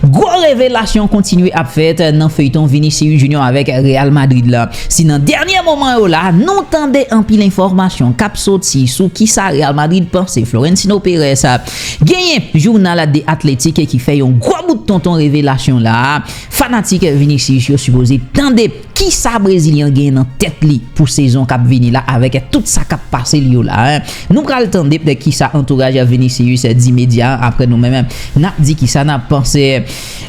Gwo revelasyon kontinye ap fèt nan feyton Vinicius Junior avèk Real Madrid la. Si nan dènye moman yo la, nou tande anpil enfòmasyon k ap soti sou kisa Real Madrid panse Florentino Perez, genyen jounal The Athletic ki fè yon gwo bout tonton revelasyon la a fanatik Vinicius yo sipoze tande. Kisa Brezilyen an genyen nan tèt li pou sezon k ap vini la avèk tout sa k ap pase l yo la? Nou pral tande ptè kisa antouraj Vinicius di medya an aprè nou menm n ap di kisa n ap panse.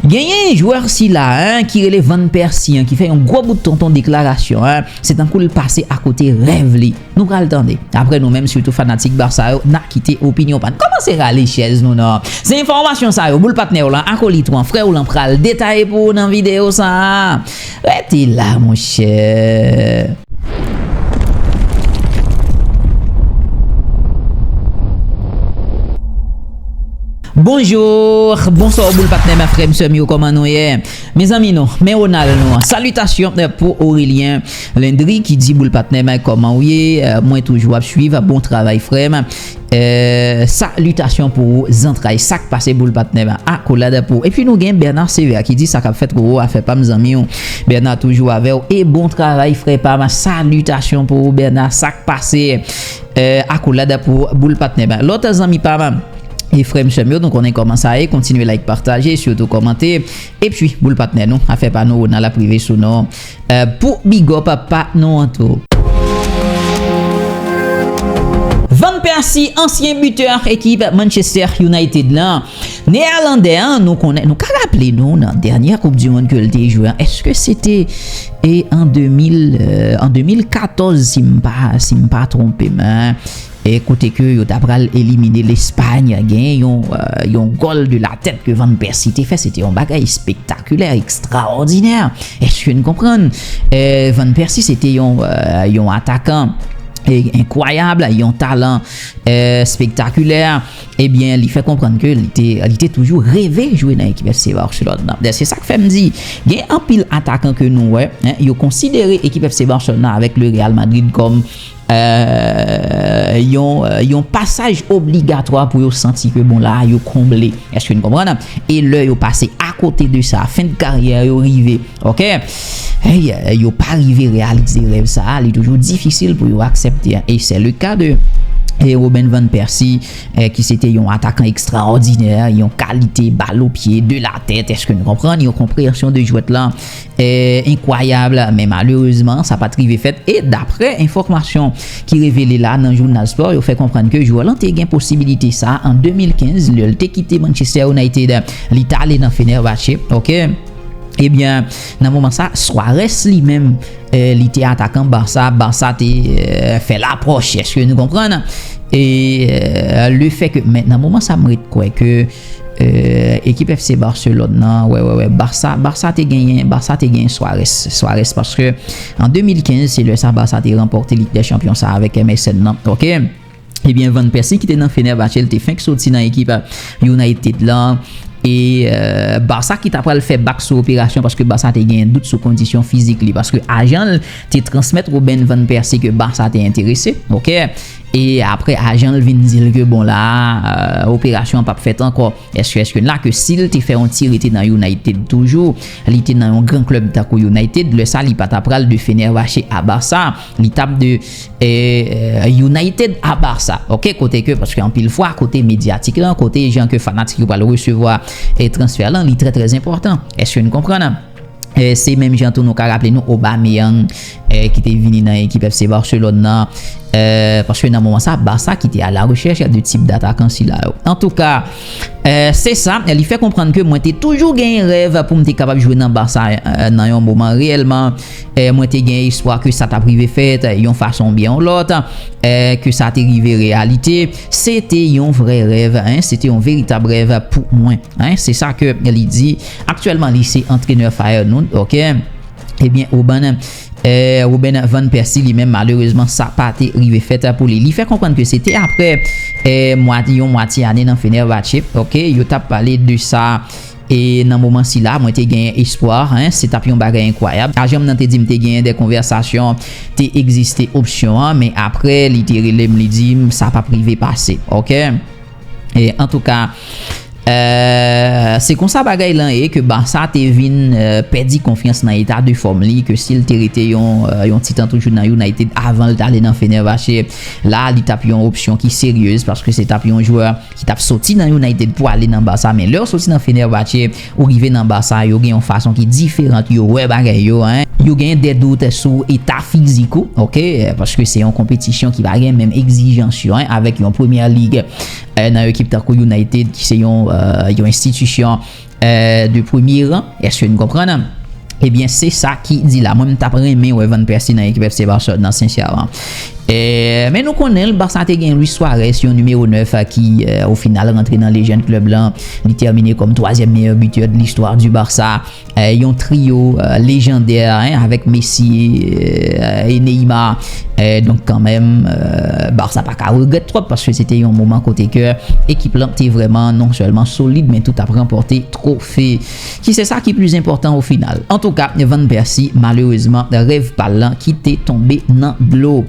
Genyen jwè sila ki rele Van Persie an ki fè yon gwo bout tonton deklarasyon se tankou l pase akote rèv li. Nou pral tande. Aprè nou menm sitou fanatik Barça yo na kite opinyon pa n. Kòmanse rale chèz nou nan. Se enfòmasyon sa yo boul patnè w lan, akolit ou an, frè w lan pral detaye pou ou nan videyo sa a. Rete la monchè. Bonjour, bonsoir boul patnè m frè m sè m yo kòman nou ye. Mezanmi nou, men Ronald nou an. Salitasyon pou Aurelien. Landry ki di boul patnè m kòman ou ye mwen toujou ap swiv bon travay frèm sa litasyon pou ou zantray sak pase boul patnè m akolad pou ou epi nou gen Bernard sevère ki di sakap fèt roro afè pam zanmi w Bernard toujou avè w e bon travay frè pam sa litasyon pou ou Bernard sak pase akolad pou ou boul patnè m lòt zanmi pam e frèm sèm yo nou konnen kòman sa ye kontinye like pataje sitou kòmante epi boul patnè nou afè pa nou Ronald ap rive sou nou. Pou bigòp pa nou an tou. Van Persi, ansyen bitè ekip Manchester United la, Neerlandè an, nou konnen, nou ka raple nou nan dènyè koup du mond ke l te jwe an, eske se te an 2014 si m pa, si m pa twonpe m. e kote ke yo ta pral elimine Lespay, genyen yon yon gòl de la tèt ke Van Pèsi te fè, se te yon bagay espektakulè, ekstraòdinè, èske n konprann? Van Pèsi se te yon yon atakan enkwayab, yon talan espektakulè, ebyen li fè konprann ke li te li te toujou reve jwe nan ekip FC Barcelone nan. Se sa k fè m di, gen anpil atakan ke nou wè, yo konsidere ekip FC Barcelone nan avèk le Real Madrid kòm yon pasaj obligatwa pou yo santi ke bon la a yo konble èske nou konprann e lè yo pase akote de sa fen de karyè yo rive ok yo pa rive reyalize rèv sa a li toujou difisil pou yo aksepte e se le ka de Robin Van Persi ki se te yon atakan ekstraòdinè yon kalite balo pye de la tèt èske nou konprann yon konpreyansyon de jwèt lan Enkwayab, men malerezman sa pat rive fèt e daprè enfòmasyon ki revele la nan jounal Sport yo fè konprann ke jwè lan te gen posibilite sa an 2015 lè l te kite Manchester United li t ale nan Fenerbahçe ok ebyen nan moman sa Suarez li menm li te atakan Barça, Barça te fè lapwòch eske nou konprann e le fè ke men nan moman sa m ret kwè ke. Eehh ekip FC Barcelone nan wè wè wè Barça Barça te genyen Barça te genyen Suarez Suarez paske an 2015 se lè sa Barça te ranpòte Lig dè Chanpyon sa avèk MSN nan ok. Ebyen Van Persie ki te nan Fenerbahçe l te fenk soti nan ekip United lan e Barça ki ta pral fè bak sou operasyon paske Barça te genyen dout sou kondisyon fizik li paske ajan l te transmèt Robben Van Persie ke Barça te enterese ok. E apre ajanl vin dil ke bon la operasyon an pap fèt ankò eske eske la ke sil te fè yon ti rete nan United toujou li te nan yon gran club tankou United lè sa li pata pral de Fenervache a Barça li tap de United a Barça ok kote ke paske anpil fwa kote medyatik lan kote jan ke fanatik yo pral resevwa transfè lan li trè trè enpòtan eske nou konprann. Se menm jan tou nou ka raple nou Aubameyang ki te vini nan ekip FC Barcelone nan, paske nan moman sa Barça ki te a la rechèch de tip datakan sila yo. Antouka, se sa, li fè konprann ke mwen te toujou genyen rèv pou m te kapab jwe nan Barça nan yon moman. Reyèlman, mwen te gen espwa ke sa t ap rive fèt yon fason oubyen yon lòt, ke sa te rive reyalite. Se te yon vrè rèv, se te yon veritab rèv pou mwen, se sa ke li di. Aktyèlman li se antrenè Feyenoord ok. Ebyen Ruben Ruben van Persie li menm malerezman sa pa te rive fèt pou li. Li fè konprann ke se te aprè yon mwatye ane nan Fenerbahçe ok yo t ap pale de sa e nan moman sila mwen te genyen espwa se t ap yon bagay enkwayab. Ajan m nan te di m te genyen de konvèsasyon te egziste opsyon an men aprè li te rele m li di m sa p ap rive pase ok. E antouka se konsa bagay lan ye ke Barça te vin pèdi konfyans nan eta de fòm li ke si l te rete yon ti tan toujou nan United avan l t ale nan Fenerbahçe la li t ap yon opsyon ki seryez paske se t ap yon jwè ki t ap soti nan United pou ale nan Barça men lè w soti nan Fenerbahçe Pou rive nan ba sa yo gen yon fason ki diferant yo wè bagay yo hein. Yo gen de dout sou eta fizik ou ok paske se yon konpetisyon ki pa gen menm egzijans yo hein avèk yon premyè lig nan yon ekip tankou United ki se yon yon enstitisyon de premye ran eske nou konprann? Ebyen se sa ki di la. Mwen m tap renmen wè Van Persie nan ekip FC Barcelone nan sensyèman. Men nou konnen l Barça te gen Luis Suarez yon nimewo 9 ki o final rantre nan lejann klèb lan. Li tèmine kòm twazyèm meyè bitè de listwa di Barça. Yon trio lejandè avèk Messi e Neymar. Donk kanmenm Barça pa ka regrèt twòp paske se te yon moman kote ke ekip lan te vrèman non sèlman solid men tou tap ranpòte twofe. Ki se sa ki pli enpòtan o final. Antouka Van Persi malerezman rèv pal lan kite tonbe nan dlo.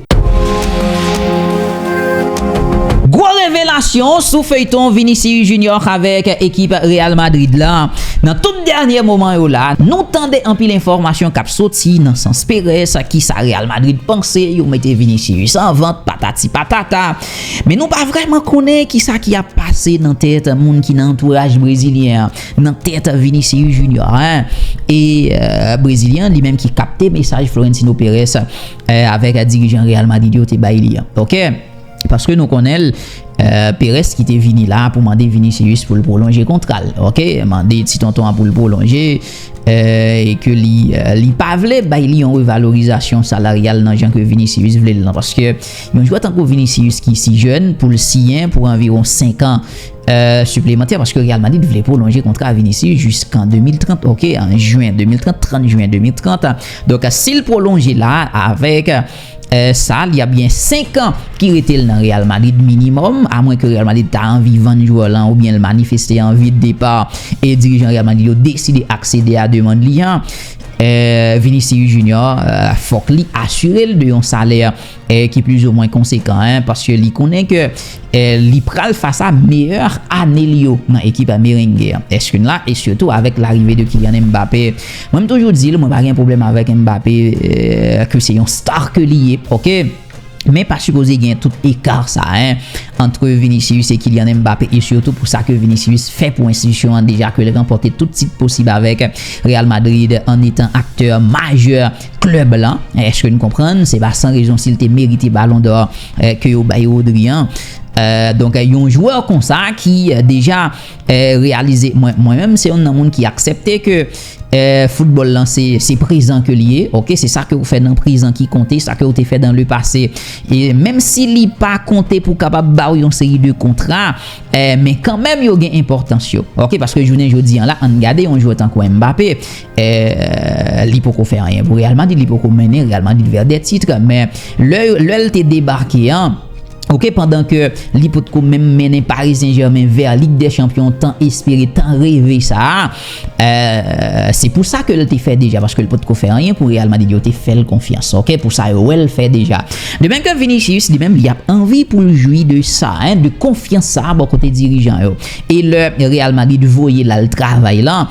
Gwo revelasyon sou feyton Vinicius Junior avèk ekip Real Madrid la. Nan tout dènye moman yo la, nou tande anpil enfòmasyon kap soti nan sans Perez, kisa Real Madrid panse, yo mete Vinicius an vant, patati patata. Men nou pa vrèman konnen kisa ki ap pase nan tèt moun ki nan antouraj brezilyen an. Nan tèt Vinicius Junior an e Brezilyen an li menm ki kapte mesaj Florentino Perez avèk dirijan Real Madrid yo te bay li an. Ok. Paske nou konnen l Perez ki te vini la pou mande Vinicius pou l pwolonje kontra l. Ok. Mande ti tonton an pou l pwolonje e ke li li pa vle bay li yon revalorizasyon salaryal nan jan ke Vinicius vle l lan. Paske yon jwè tankou Vinicius ki si jèn pou l siyen pou anviwon 5 an Siplemantè paske Real Madrid vle pwolonje kontra Vinicius jiskan 2030 ok an Juin 2030 30 Juin 2030 donk sil pwolonje la avèk sa li ap gen 5 an ki rete l nan Real Madrid minimòm a mwen ke Real Madrid ta anvi vann jwè lan oubyen l manifeste anvi de depa e dirijan Real Madrid yo deside aksede a demand li an Vinicius Junior fòk li asire l de yon salè ki plizoumwen konsekan paske li konnen ke li pral fas a meyè ane li yo nan ekip Merengue an. Eske n la? E sitou avèk larive de Kylian Mbappé. Mwen m toujou di l mwen pa gen pwoblèm avèk Mbappé ke se yon star ke li ye ok men pa sipoze gen tout eka sa antre Vinicius e Kylian Mbappé e sitou pou sa ke Vinicius fè pou enstitisyon an deja ke l ranpòte tout tit posib avèk Real Madrid an etan aktè majè klèb lan, eske nou konprann, se pa san rezon si l te merite balon dò ke yo bay Rodri an. Donk yon jwè konsa ki deja reyalize, mwen menm se youn nan moun ki aksepte ke foutbòl lan se prezan ke li ye, ok, se sa ke ou fè nan prezan ki konte, sa ke ou te fè dan le pase, menm si li pa konte pou kapab ba ou yon seri de kontra, men kanmenm yo gen enpòtans yo, ok, paske jounen jodi an la, an n gade yon jwè tankou Mbappé. li poko fè anyen pou Real Madrid, li poko mennen Real Madrid vè de titre, men lè l te debake an, ok pandan ke li potko menm mennen Paris Saint Germain vè Ligue des Champions tan espere, tan reve sa a, se pou sa ke l te fè deja, paske l potko fè anyen pou Real Madrid, yo te fè l konfyans, ok, pou sa yo wè l fè deja. De menm ke Vinicius li menm li ap anvi pou l jwi de sa, de konfyans sa a bò kote dirijan yo, e lè Real Madrid voye l al travay lan,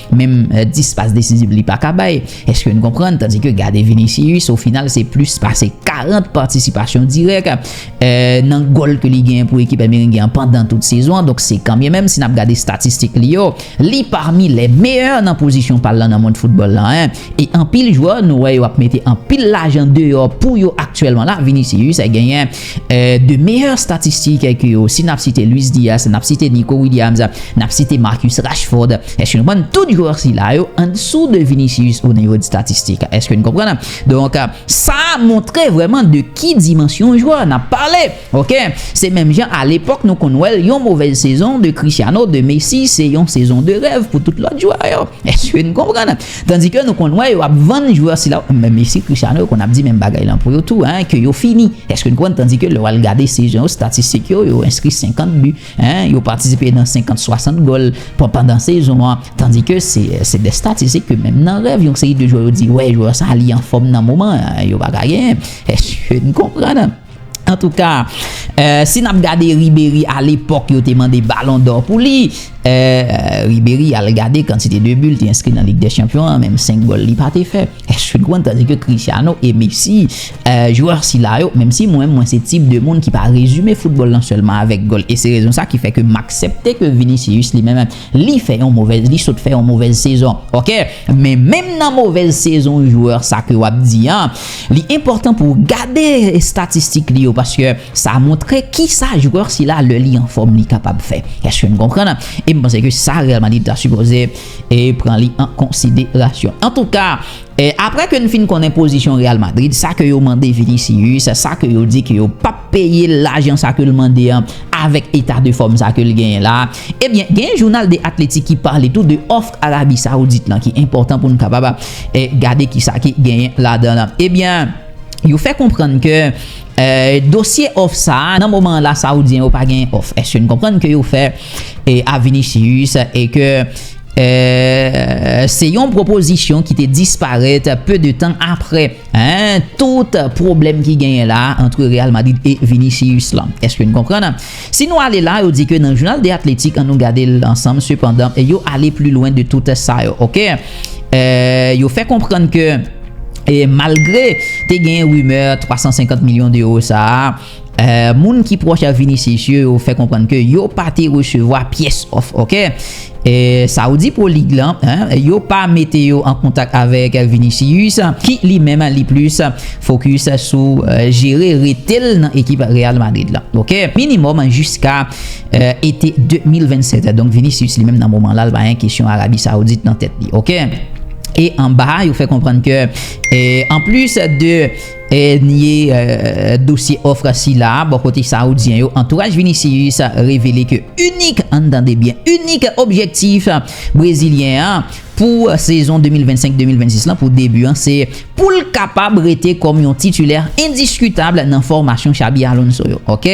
Menm 10 pas desizib li paka bay, eske n konprann, tandi ke gade Vinicius, o final se plis pase 40 patisipasyon dirèk nan gòl ke li genyen pou ekip Merengue an pandan tout sezon an, donk se kanbyen menm si n ap gade estatistik li yo, li pami lè meyè nan pozisyon pa l lan nan mond foutbòl lan 1, e anpil jwè nou wè yo ap mete anpil lajan deyò pou yo aktyèlman la, Vinicius genyen 2 meyè statistikè ke yo, si nap site Luis Diaz, nap site Nico Williams, nap site Marcus Rashford, èske nou konprann tout jwè sila yo andesou de Vinicius o nivo de statistik? Èske nou konprann? Donk sa montre vrèman de ki dimansyon jwè nap pale ok. Se menm jan a lepòk nou konn wèl yon movèz sezon de Cristiano, de Messi se yon sezon de rèv pou tout lòt jwè yo. Èske nou konprann? Tandi ke nou konn wè yo ap vann jwè sila ou menm mesye Cristiano yo konn ap di menm bagay lan pou yo tou hein ke yo fini eske nou konprann tandi ke lè wal gade sezon yo statistik yo yo enskri 50 but hein yo patisipe nan 50 60 gòl pran pandan sezon an tandi ke se se dè statistik ke menm nan rèv yon seri de jwè yo di wè jwè sa li anfòm nan moman an yo paka genyen eske nou konprann. Antouka, si n ap gade Riberi a lepòk yo te mande balon dò pou li, Riberi al gade kantite de bi l te enskri nan Lig dè Chanpyon an, menm 5 gòl li pa te fè. Èske n konprann? Tandike Cristiano e Messi, jwè sila yo, menm si mwen mwen se tip de moun ki pa rezime foutbòl lan sèlman avèk gòl e se rezon sa ki fè ke m aksepte ke Vinicius li menm, Li fè yon movèz li sot fè yon movèz sezon ok men menm nan movèz sezon jwè sa ke wap di an li enpòtan pou gade estatistik li yo paske sa montre kisa jwè sila lè li anfòm li kapab fè eske nou konprann e m panse ke sa Real Madrid ta sipoze e pran li an konsiderasyon antouka Aprè ke n fin konnen pozisyon Real Madrid, sa ke yo mande Vinicius, sa ke yo di ke yo p ap peye l lajan sa ke l mande an avèk eta de fòm sa ke l genyen la a, ebyen genyen jounal The Athletic ki pale tou de òf Arabi Saoudit lan ki enpòtan pou n kapab gade kisa ki genyen ladan l. Ebyen, yo fè konprann ke dosye òf sa a, nan moman an la Saoudyen yo pa genyen òf. Èske n konprann ke yo fè. a Vinicius e ke se yon pwopozisyon ki te disparèt peu de tan apre tout pwoblèm ki genyen la antre Real Madrid e Vinicius la. Eske nou konprann? Si nou ale la, yo di ke nan Jounal de Athletic, an nou gade l ansanm sepandan, yo ale pli lwen de tout sa yo. Ok. Yo fè konprann ke malgre te genyen rimè 350 milyon de euro sa a, Moun ki pwòch a Vinicius yo yo fè konprann ke yo pa te resevwa pyès òf ok Saudi Pro League la yo pa mete yo an kontak avèk Vinicius ki li menm li plis fokis sou jere rete l nan ekip Real Madrid la ok minimòm jiska ete 2027 donk Vinicius li menm nan moman la l pa gen kesyon Arabie Saoudite nan tèt li ok e anba yo fè konprann ke anplis de Dènye dosye òf sila a bò kote sawoudyen yo, antouraj Vinicius revele ke inik, ann tande byen, inik objektif brezilyen an pou sezon 2025-2026 lan pou debi an se pou l kapab rete kòm yon titulè endiskitab nan fòmasyon Xabi Alonso yo ok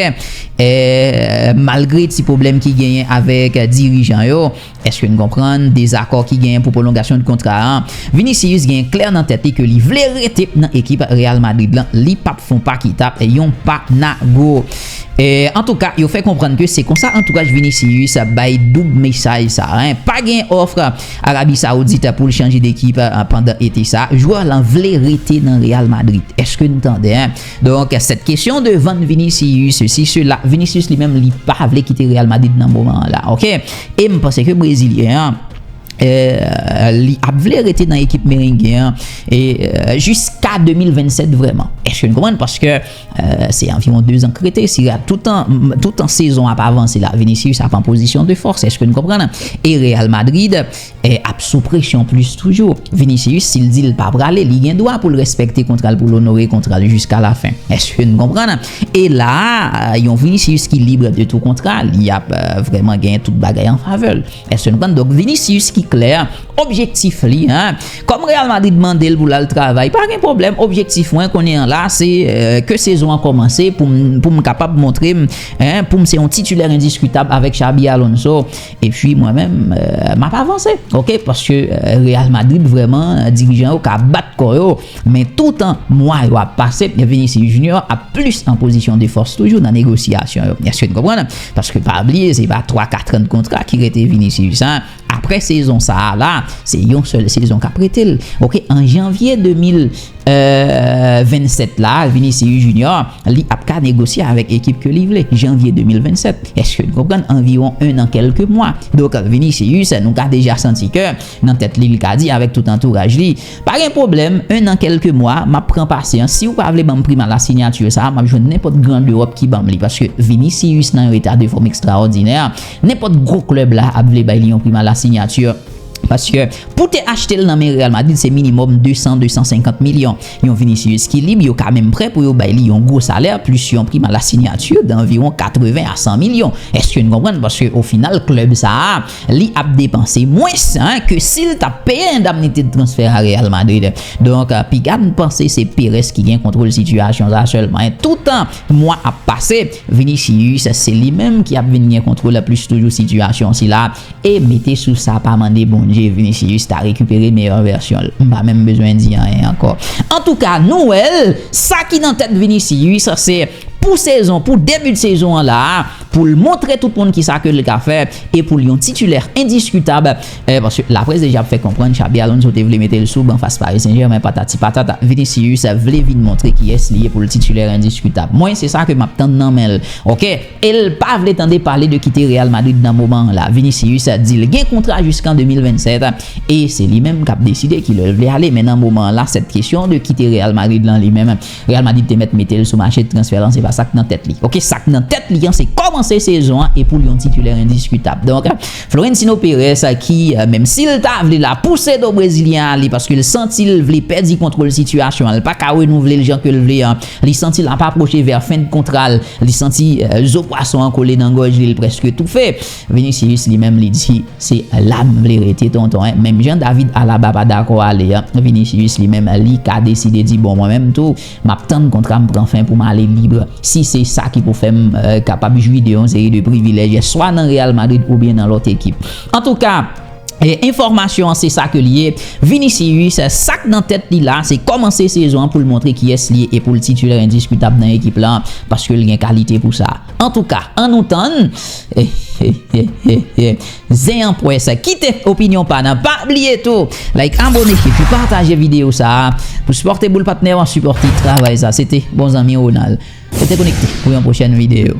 malgre ti pwoblèm ki genyen avèk dirijan yo. Eske n konprann dezakò ki genyen pou pwolongasyon n kontra a? Vinicius genyen klè nan tèt li ke li vle rete nan ekip Real Madrid lan, li pap fon pa kita yon pa nago. Antouka yo fè konprann ke se konsa antouraj Vinicius bay doub mesaj sa a. Pa genyen òf Arabi Saoudit pou l chanje dekip pandan ete sa a. Jwè lan vle rete nan Real Madrid. Eske n tande? Donk 7 kesyon de vann Vinicius sesi sela, Vinicius li menm li pa vle kite Real Madrid nan moman an la ok e m panse ke brezilyen an li ap vle rete nan ekip merengue an jiska 2027 vrèman èske nou konprann paske se anviwon 2 zan k rete si Real toutan sezon ap avanse la Vinicius ap an pozisyon de fòs èske nou konprann e Real Madrid ap sou presyon plis toujou. Vinicius si l di l pa prale, li gen dwa pou l respekte kontra l pou l onore kontra l jiska lafen. Èske n konprann? E la a, yon Vinicius ki libre de tout kontra, li ap vrèman gen tout bagay an favè l. Èske n konprann? Donk Vinicius ki klè, objektif li, kòm Real Madrid mande l pou l al travay, pa gen pwoblèm, objektif mwen kounye an la, se ke sezon an kòmanse pou m kapab montre m pou m se yon titulaire indiscutable avèk Xabi Alonso. Epi mwen menm map avanse ok paske Real Madrid vrèman dirijan yo ka bat kò yo men toutan mwa yo ap pase Vinicius Junior ap plis an pozisyon de fòs toujou nan negosyasyon yo èske n konprann paske pa bliye se pa 3 4 an kontra ki rete Vinicius a aprè sezon sa la se yon sèl sezon kap rete l ok an janvye 2000. 27 la Vinicius Junior li ap ka negosye avèk ekip ke li vle Janvye 2027 eske nou konprann anviwon 1 an kèlke mwa donk Vinicius nou ka deja santi ke nan tèt li li ka di avèk tout antouraj li pa gen pwoblèm 1 an kèlke mwa m ap pran pasyans si ou pa vle banm prim a la signature sa m ap jwenn nenpòt gran dewòp ki banm li paske Vinicius nan yon eta de fòm ekstraòdinè nenpòt gwo klèb la ap vle bay li yon prim a la signature. Paske pou te achte l nan men Real Madrid se minimòm 200, 250 milyon. Yon Vinicius ki lib, yo ka menm prè pou yo bay li yon gwo salè plis yon prim a la sinyati danviwon 80 a 100 milyon. Èske n konprann? Paske ofinal klèb sa a li ap depanse mwens ke si l t ap peye endamnite de transfè a Real Madrid. Donk piga n panse se Perez ki gen kontwol sitiyasyon sa a sèlman. Toutan mwa ap pase, Vinicius se li menm ki ap vin gen kontwol plis toujou sitiyasyon sila a. E mete sou sa pa mande Bondye Vinicius ta rekipere meyè vèsyon l, m pa menm bezwen di anyen ankò. Antouka nou wè l, sa ki nan tèt Vinicius se pou sezon, pou debut sezon an la a, pou l montre tout moun kisa ke l ka fè e pou l yon titulè endiskitab, paske laprès deja ap fè konprann Xabi Alonso te vle mete l sou ban fas Paris Saint Germain patati patata. Vinicius vle vin montre kiyès li ye pou l titulè endiskitab. Mwen se sa ke m ap tann nan men l. Ok. El pa vle tande pale de kite Real Madrid nan moman an la. Vinicius di l gen kontra jiskan 2027 e se li menm kap deside ki lè l vle ale men nan moman an la sèt kesyon de kite Real Madrid lan li menm Real Madrid te mèt mete l sou mache transfè lan se pa sak nan tèt li ok sak nan tèt li an se kòmanse sezon an e pou l yon titulè endiskitab donk Florentino Perez ki menm si l ta vle la pouse do brezilyen ale paske l santi l vle pèdi kontwol sitiyasyon an l paka renouvle l jan ke l vle an Li santi l ap apwoche vè fen de kontra l, li santi zo pwason an kole nan gòj li, l prèske toufe. Vinicius li menm li di, Se la m vle rete tonton. Menm jan David Alaba pa dakò ale an, Vinicius li menm li ka deside di bon mwen menm tou m ap tann kontra m pran fen pou m ale libre si se sa ki pou fè m kapab jwi de yon seri de privilèj swa nan Real Madrid oubyen nan lòt ekip. Antouka. Enfòmasyon an se sa ke l ye. Vinicius, sak nan tèt li la, se kòmanse sezon an pou l montre kiyès li ye e pou l titulè endiskitab nan ekip la, paske l gen kalite pou sa. Antouka, an nou tann. Zen an pwès. Kite opinyon pa nan. Pa bliye tou like, abone epi pataje videyo sa a pou sipòte Boul Patnè an, sipòte travay sa. Se te bon zanmi Ronald. Rete konekte pou yon pwochèn videyo.